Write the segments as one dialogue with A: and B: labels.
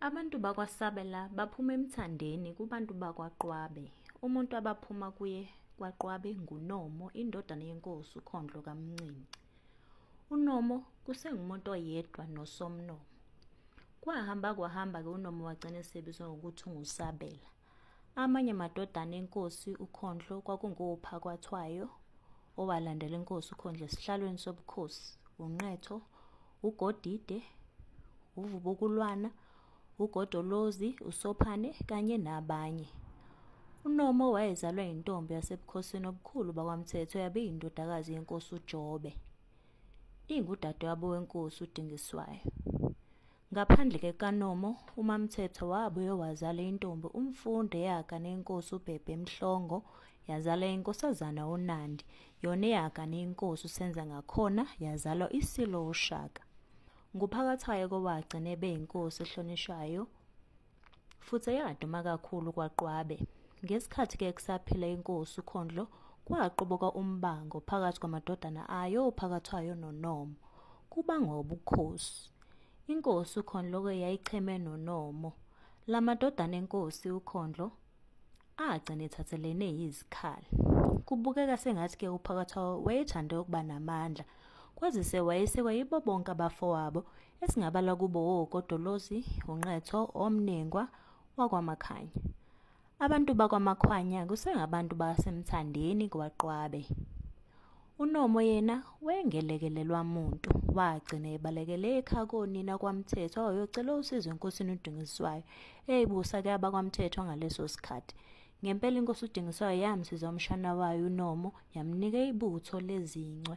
A: Abantu bakwaSabela baphuma emthandeni kubantu bakwaQwabe. Umuntu abaphuma kuye kwaQwabe nguNomo, indodana yenkosi uKhondlo kaMncinci. UNomo kusengumuntu oyedwa noSomnomo. Kwahamba kwahamba-ke uNomo wagcina esebizwa ngokuthi unguSabela. Amanye amadodana enkosi uKhondlo kwakunguPhakwathwayo, owalandela inkosi uKhondlo esihlalweni sobukhosi, uNqetho, uGodide, uVubukulwana, uGodolozi, uSophane kanye nabanye. UNomo wayezalwa yintombi yasebukhosini obukhulu bakwaMthetho yabe yindodakazi yenkosi uJobe. Ingudadewabo wenkosi uDingiswayo. Ngaphandle kekaNomo, uMaMthethwa wabuye wazala intombi uMfundo eyaga nenkosi uBhebhe Mhlongo, yazala inkosazana uNandi, yona eyaga nenkosi uSenza ngakhona yazalwa iSilo uShaka. Nguphakathwayo kowagcina ebeyinkosi ehlonishwayo. futhi eyaduma kakhulu kwaQwabe. Ngesikhathi ke kusaphila inkosi uKhondlo kwaqoboka umbango phakathi kwamadodana ayo ophakathwayo noNomo kuba ngobukhosi. Inkosi uKhondlo ke yayicheme noNomo. Lamadodana enkosi uKhondlo agcina ethathelene yizikhali. Kubukeka sengathi ke uphakathwayo wayethande ukuba namandla kwazise wayesekwa yibo bonke abafowabo esingabala kubo wokodolozi unqetho omnengwa wakwamakhanya abantu bakwamakhwanya kusengabantu basemthandeni kwaqwabe unomo yena wengelekelelwa muntu wagcina ebalekele ekhakonina kwamthetho wayocela usizo enkosini udingiswayo eyibusa ke abakwamthetho ngaleso sikhathi ngempela inkosi udingiswayo yamsiza umshana wayo unomo yamnika ibutho lezincwe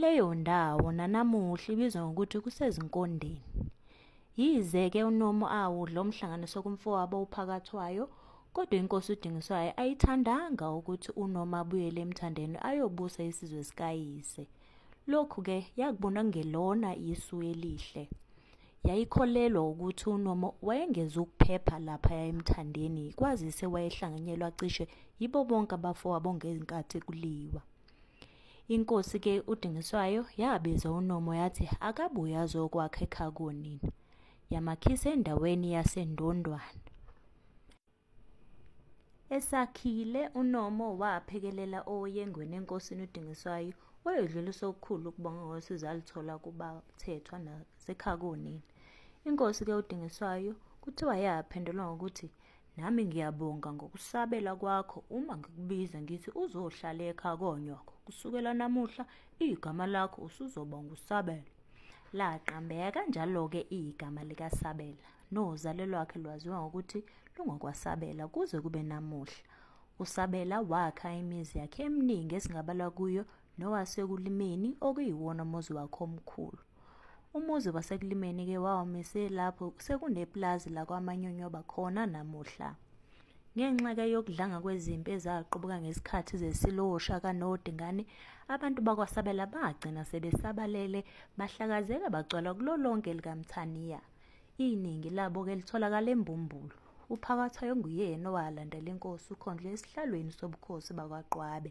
A: Leyo ndawo nanamuhla ibizwa ngokuthi kusezinkondeni. Yize-ke uNomo awudla umhlanganiso kumfowabo uPhakathwayo, kodwa inkosi uDingiswayo ayithandanga ukuthi uNomo abuyele emthandeni ayobusa isizwe sikayise. Lokhu-ke yakubona kungelona isu elihle. Yayikholelwa ukuthi uNomo wayengeze ukuphepha laphaya emthandeni kwazise wayehlanganyelwa cishe yibo bonke abafowabo ngenkathi kuliwa. Inkosi ke uDingiswayo yabiza uNomo yathi akabuye azokwakha ekhakonini. Yamakhisa endaweni yaseNdondwana. Esakhile uNomo waphekelela oyengweni enkosini uDingiswayo wayodlulisa okukhulu ukubonga ngosizo alithola kubathethwa nasekhakonini. Inkosi ke uDingiswayo kuthiwa yaphendula ngokuthi Nami ngiyabonga ngokusabela kwakho uma ngikubiza ngithi uzohlala ekha konyoko. Kusukela namuhla igama lakho usuzoba ngusabela. Laqambeka kanjalo-ke igama likaSabela nozalo lwakhe lwaziwa ngokuthi lungokwaSabela kuze kube namuhla. USabela wakha imizi yakhe eminingi esingabala kuyo nowasekulimeni okuyiwona umuzi wakhe omkhulu umuzi wasekulimeni ke wawumise lapho sekuneplazi lakwamanyonyoba khona namuhla ngenxa ke yokudlanga kwezimpi ezaqubuka ngesikhathi zesilosha kanodi ngani abantu bakwasabela bagcina sebesabalele bahlakazeka bagcwala kulo lonke likamthaniya iningi labo ke litholakala embumbulu uphakathwayo nguyena owalandela inkosi ukhondlo esihlalweni sobukhosi bakwaqwabe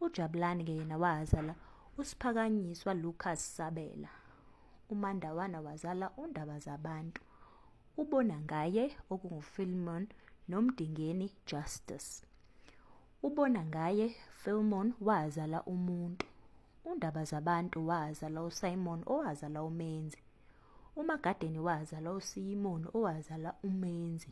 A: ujabulani ke yena wazala usiphakanyiswa lucas sabela umandawana wazala undaba zabantu ubona ngaye okungufilmon nomdingeni justice ubona ngaye filmon wazala umuntu undaba zabantu wazala usimon owazala umenzi umagadeni wazala usimon owazala umenzi